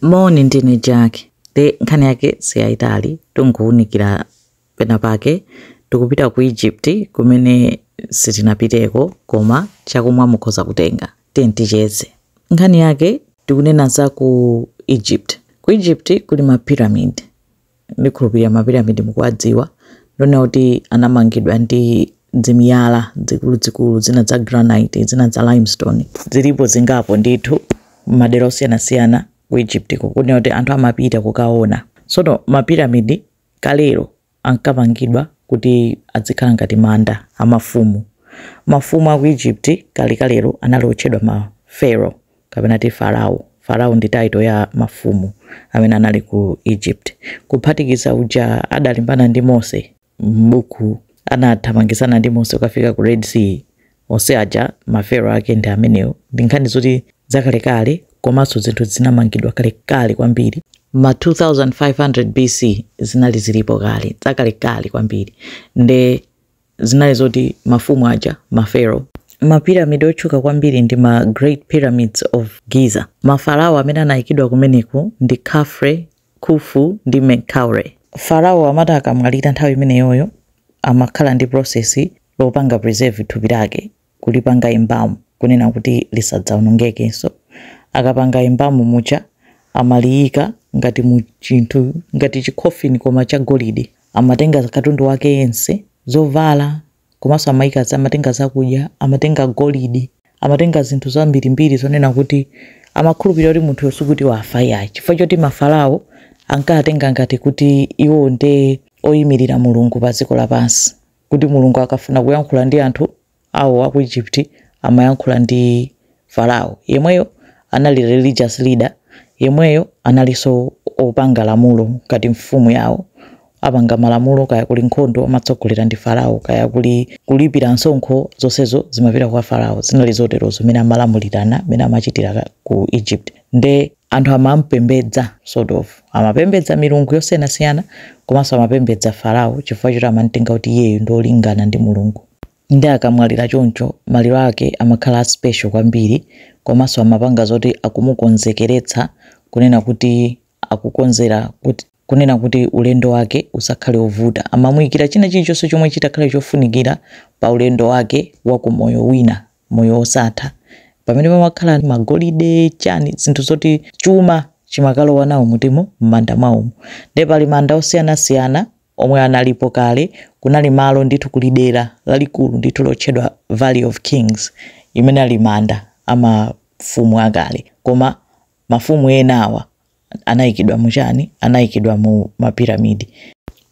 Moni ndine Jack nde nkhani yake siyayitali tungowunikira pena pake tikupita ku Egypt kumene sitinapiteko koma chakumwa mukhoza kutenga tiyi ticheze nkhani yake tikunena za ku Egypt ku Egypt kuli ma pyramid ndikhulupirira mapiramidi mukuwadziwa, ndionena kuti anamangidwa ndi dzimiyala dzikuluzikulu zina za granite zina za limestone zilipo zingapo ndithu madera osiyanasiyana ku Egypt konena kuti anthu amapita kukaona sono mapiramidi kalero ankamangidwa kuti adzikhala ngati manda amafumu mafumu aku Egypt kale kalero anali otchedwa ma pharaoh kapena kuti Farao, Farao ndi title ya mafumu amene anali ku Egypt, kuphatikiza uja adalimbana ndi Mose m'buku anathamangitsana ndi Mose ukafika ku Red Sea, onse aja ma Pharaoh ake ndi amenewo, ndi nkhani zoti zakalekale komanso zinthu zinamangidwa kalekale kwambiri ma 2500 BC zinali zilipo kale zakalekale kwambiri nde zinali zoti mafumu aja, ma Pharaoh, ma pyramid otchuka kwambiri ndi ma Great Pyramids of Giza. Ma Farao amene anaikidwa kumeneko ndi Khafre, Khufu ndi Menkaure. Farao amati akamwalira nthawi imeneyoyo amakhala ndi process yopanga preserve thupi lake kulipanga embalm kunena kuti lisadzaonongekenso. Akapanga embalm muja amaliyika ngati mu chinthu ngati chi coffin koma cha golide. Amatenga katundu wake yense, zovala komanso amayika, amatenga zakudya, amatenga golide, amatenga zinthu zambirimbiri zonena kuti amakhulupirira kuti munthuyo sikuti wafa iyayi chifukwa choti ma Farao ankatenga ngati kuti iwo nde oyimirira Mulungu pa dziko lapansi. kuti Mulungu akafuna kuyankhula ndi anthu Awo aku Egypt amayankhula ndi Farao yemweyo anali religious leader yemweyo analinso opanga lamulo ngati mfumu yawo apanga malamulo kaya kuli nkhondo amatsogolera ndi Farao kaya kuli kulipira msonkho zonsezo zimapita kwa Farao zinali zoterozo mmene amalamulirana mmene amachitira ku Egypt nde anthu amamupembedza sort of amapembedza milungu yosiyanasiyana komanso amapembedza farao chifukwa choti amamtenga kuti iyeyo ndi olingana ndi mulungu nde akamwalira choncho maliro ake amakhala a special kwambiri komanso amapanga zoti akumukonzekeretsa kunena kuti akukonzera kuti kunena kuti ulendo wake usakhale ovuta. Amamuyikira china chilichonse chomwe chitakhale chofunikira pa ulendo wake wa ku moyo wina, moyo osatha. Pamenepo pamakhala ma golide, chani, zinthu zoti chuma chimakalowa nawo m'katimo m'manda mwawomo. Nde pali manda osiyanasiyana omwe analipo kale, kunali malo ndithu kuli dera lalikulu ndithu lotchedwa Valley of Kings amene ali manda a mafumu akale. Koma mafumu ena awa anaikidwa muchani anaikidwa mu mapiramidi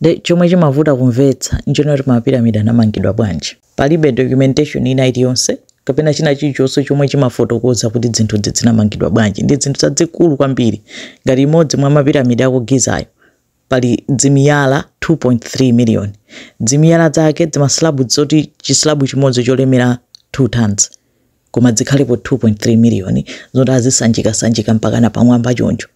nde chomwe chimavuta kumvetsa nchonena kuti mapiramidi anamangidwa bwanji palibe documentation ina iliyonse kapena china chilichonse chomwe chimafotokoza kuti dzinthudzi dzinamangidwa bwanji ndi dzinthu zadzikulu kwambiri ngati imodzi mwa mapiramidi aku gizayo pali dzimiyala 2.3 miliyoni. Dzimiyala dzake, dzimaslabu dzoti chislabu chimodzi cholemera 2 tons, koma dzikhalepo 2.3 miliyoni zoti azisanjikasanjika mpakana pamwamba choncho.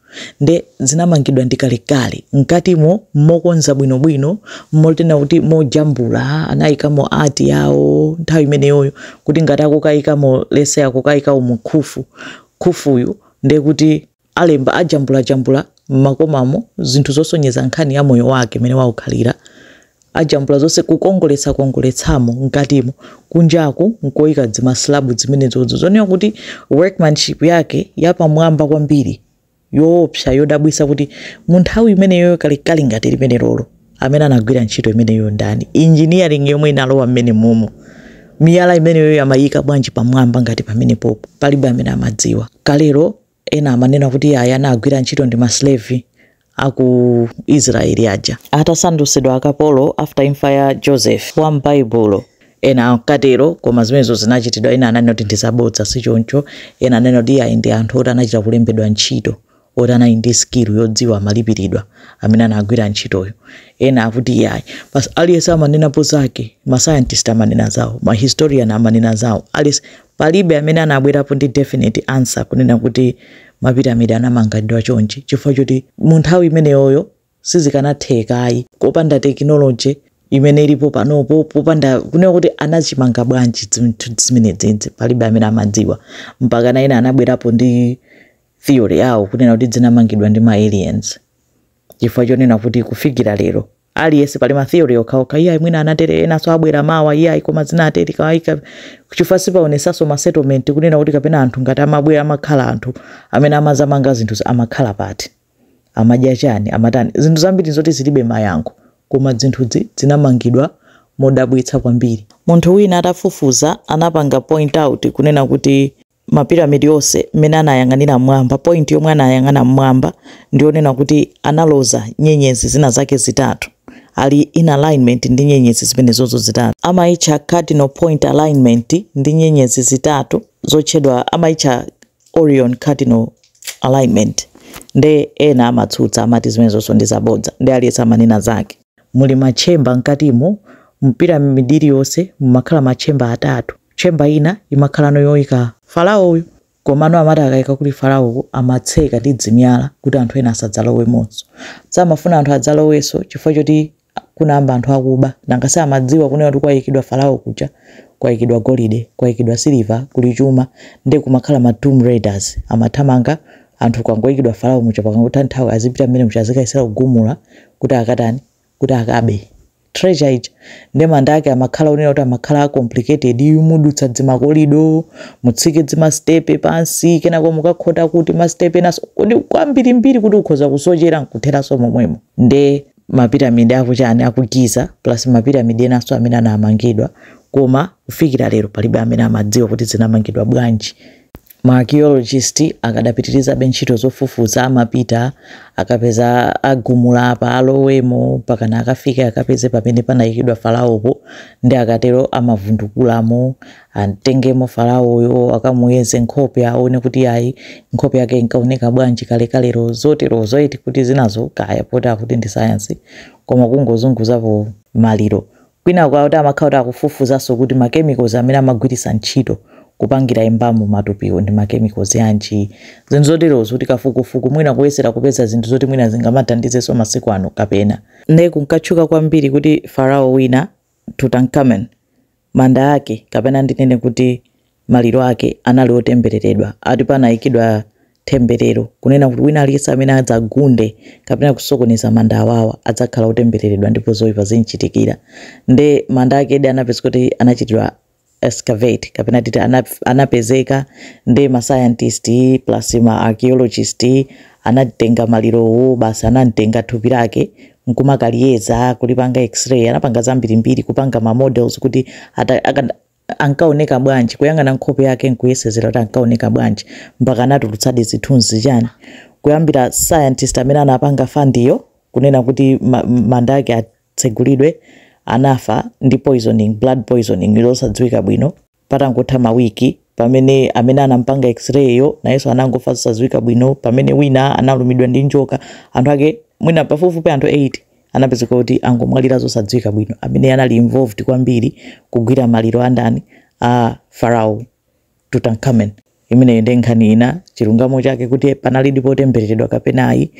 Nde zinamangidwa ndi kalekale. Mkatimo mokonza bwinobwino, motena kuti mojambula, anaikamo art yawo nthawi imeneyoyo kuti ngati akukaikamo let's say akukaikamo Khufu, Khufuyu ndekuti. Alemba ajambulajambula m'makomamo zinthu zosonyeza nkhani ya moyo wake mmene waukhalira. Ajambula zonse kukongoletsakongoletsamo mkatimo. Kunjaku nkoika dzimaslabu dzimenedzodzo zonena kuti workmanship yake yapamwamba kwambiri, yoopsa, yodabwitsa kuti munthawi imeneyoyo kalekale ngati limenelolo amene anagwira ntchito imeneyoyo ndani? Engineering yomwe inalowa mmenemomo miyala imeneyoyo amaiika bwanji pamwamba ngati pamenepopo? Palibe amene amadziwa. Kalelo Ena amanena kuti iyayi anagwira ntchito ndi ma slave aku Israel aja atasandusidwa akapolo after imfa ya Joseph wa m'Baibulo. Ena ankatero koma zimenezo zinachitidwa. Ena ananena kuti ndizabodza sichoncho. Ena ananena kuti iyayi ndi anthu oti anachita kulembedwa ntchito oti anali ndi skill yodziwa amalipiridwa amene anagwira ntchitoyo. Ena akuti iyayi. Basi aliyense amanenapo zake. Ma scientist amanena zawo, ma historian amanena zawo. Aliyense Palibe amene anabwerapo ndi definite answer kunena kuti mapiramidi anamangidwa chonchi chifukwa choti mu nthawi imeneyoyo sizikanatheka ayi kopanda technology imene ilipo panopo popanda kunena kuti anachimanga bwanji zinthu zimenedzidzi palibe amene amadziwa mpakana ena anabwerapo ndi theory yawo kunena kuti dzinamangidwa ndi ma aliens chifukwa chonena kuti kufikira lero aliyense pali ma theory okhaokha iyayi mwina anatere enanso abwera mawa iyayi koma zinatere kawaika chifukwa sipaonesanso ma settlement kunena kuti kapena anthu ngati amabwera amakhala anthu amene amazamanga zinthu amakhala pati amadya chani amatani zinthu zambiri zoti zilibe mayankho koma zinthuzi zinamangidwa modabwitsa kwambiri munthu wina atafufuza anapanga point out kunena kuti mapiramidi onse mmene anayang'anira mmwamba, point yomwe anayang'ana mmwamba ndi yonena kuti analoza nyenyezi zina zake zitatu, ali in alignment ndi nyenyezi zimenezozo zitatu. Amaitcha cardinal point alignment ndi nyenyezi zitatu zotchedwa amaitcha Orion cardinal alignment nde ena amatsutsa amati zimenezozo ndi zabodza ndi aliyense amanena zake. Muli matchemba mkatimo, mpiramidi iliyonse mumakhala matchemba atatu. Chamber ina imakhala yoika Faraoyo komano amati akaika kuli Faraoko amatseka ndi dzimyala kuti anthu ena asadzalowemonso. Samafuna anthu adzalowenso chifukwa choti kunayamba anthu akuba nanga si amadziwa kunena kuti kwaikidwa Farao kuja kwaikidwa golide, kwaikidwa siliva, kuli chuma nde kumakhala ma tomb raiders amathamanga anthu kukangoikidwa Farao muja pakangotha nthawi azipita m'mmanda muja azikayesera kugumula kuti akatani? kuti akabe treasure ija nde manda ake amakhala onena kuti amakhala a complicated mudutsa dzimakolido mutsike dzimastepe pansi kenako mukakhota kuti mastepe enaso kuti kwambirimbiri kuti ukhoza kusochera nkutheranso momwemo nde mapiramidi akuchani a ku Giza plus mapiramidi enaso amene anamangidwa koma kufikira lero palibe amene amadziwa kuti zinamangidwa bwanji Maakiyolojisiti akadapitirizabe ntchito zofufuza, amapita akapeza agumula apa, alowemo mpakana akafike akapeze pamene panaikidwa Faraopo, nde akatero amavundukulamo, atengemo Faraoyo, akamuyeze nkhope aone kuti ayi, nkhope yake inkaoneka bwanji kalekalelo, zoterozo eti, kuti zinazo kaya poti akuti ndi sayansi, koma kungozunguzapo maliro Kwina kwake amakhala akuti akufufuzanso kuti ma chemicals amene amagwiritsa ntchito kupangira embalm matupiwo ndi ma chemicals anji, zinthu zoterozo kuti kafukufuku mwina kuyesera kupeza zinthu zoti mwina zingamathandizenso masiku ano kapena. Nde kunkatchuka kwambiri kuti Farao wina, Tutankhamen, manda ake kapena ndinene kuti maliro ake anali otembereredwa, ati panaikidwa temberero kunena kuti wina aliyense amene adzagunde kapena kusokoneza manda awawa adzakhala otembereredwa ndipo zoipa zimuchitikira. Nde manda akedi anapezeka kuti anachitidwa excavate kapena titi anapezeka nde ma scientist plus ma archaeologist anatenga malirowo basi anatenga thupi lake nkumakaliyeza kulipanga x-ray anapanga zambirimbiri kupanga ma models kuti ankaoneka bwanji, kuyang'ana nkhope yake nkuyesezera kuti ankaoneka bwanji mpaka anatulutsadi zithunzi chani kuyambira scientist amene anapanga fund iyo kunena kuti ma, manda ake atsegulidwe anafa ndi poisoning blood poisoning losadziwika bwino patangotha mawiki pamene amene anampanga x-ray yo nayenso anangofa zosadziwika bwino pamene wina analumidwa ndi njoka anthu ake mwina pafupifupi anthu 8 anapezeka kuti angomwalira zosadziwika bwino amene anali involved kwambiri kugwira maliro andani a farao tutankhamen imeneyo ndi nkhani ina chilungamo chake kuti panalidi po tembereredwa kapena ayi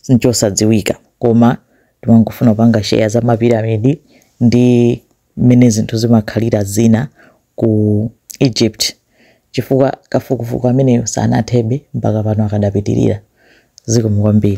nchosadziwika koma timangofuna kupanga share za mapiramidi ndi mmene zinthu zimakhalira zina ku egypt chifukwa kafukufuku ameneyo sanathebe mpaka pano akadapitirira zikomo kwambiri